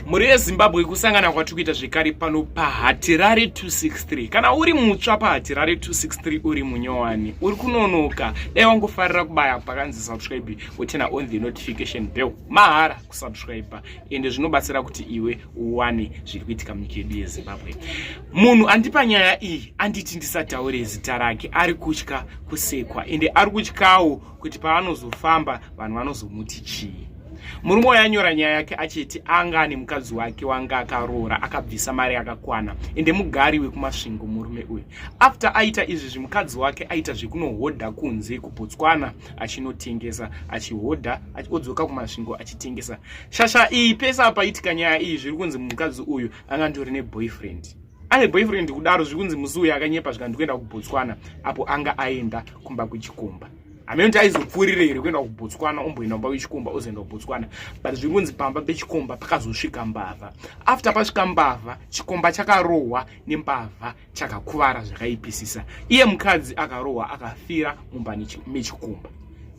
mhuri yezimbabwe kusangana kwatiri kuita zvekare pano pahatirare 263 kana uri mutsva pahatirare 263 uri munyowani uri kunonoka dai wangofarira kubaya pakanzi subscribe wotena on the notification bell mahara kusubscribe ende zvinobatsira kuti iwe uwane zviri kuitika munyika yedu yezimbabwe munhu andipa nyaya iyi anditi ndisataure zita rake ari kutya kusekwa ende ari kutyawo kuti paanozofamba vanhu vanozomuti chii murume uyo anyora nyaya yake achiti anga ane mukadzi wake wanga akaroora akabvisa mari yakakwana ende mugari wekumasvingo murume uyu after aita izvi zvimukadzi wake aita zvekunohodha kunze kubotswana achinotengesa achihodha odzoka kumasvingo achitengesa shasha iyi pese apaitika nyaya iyi zviri kunzi mukadzi uyu anga ndori neboyfriend ane boyfriend kudaro zvikunzi musi uya akanyepa zvikanzi kuenda kubotswana apo anga aenda kumba kwechikomba hameno kuti aizopfuurire here kuenda kubotswana omboenda kumba kwechikomba ozoenda kubotswana but zvikunzi pamba pechikomba pakazosvika mbavha after pasvika mbavha chikomba chakarohwa nembavha chakakuvara zvakaipisisa iye mukadzi akarohwa akafira mumba mechikomba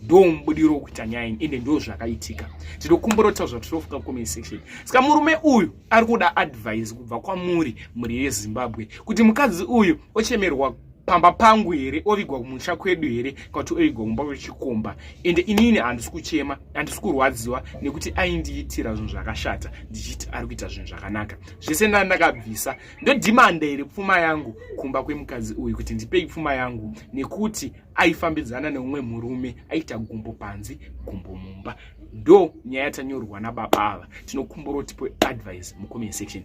ndo mubudiro wekuita nyaya ini ende ndo zvakaitika tinokumbura kutaura zvatinofuka comment section saka murume uyu ari kuda advise kubva kwamuri mhuri yezimbabwe kuti mukadzi uyu ochemerwa pamba pangu here ovigwa kumusha kwedu here kana kuti ovigwa kumba kwechikomba ende inini handisi kuchema handisi kurwadziwa nekuti aindiitira zvinhu zvakashata ndichiti ari kuita zvinhu zvakanaka zvese ndani ndakabvisa ndodhimanda here pfuma yangu kumba kwemukadzi uyu kuti ndipei pfuma yangu nekuti aifambidzana neumwe murume aita gumbo panzi gumbo mumba ndo nyaya yatanyorwa nababa ava tinokumbura kuti advice mucomment section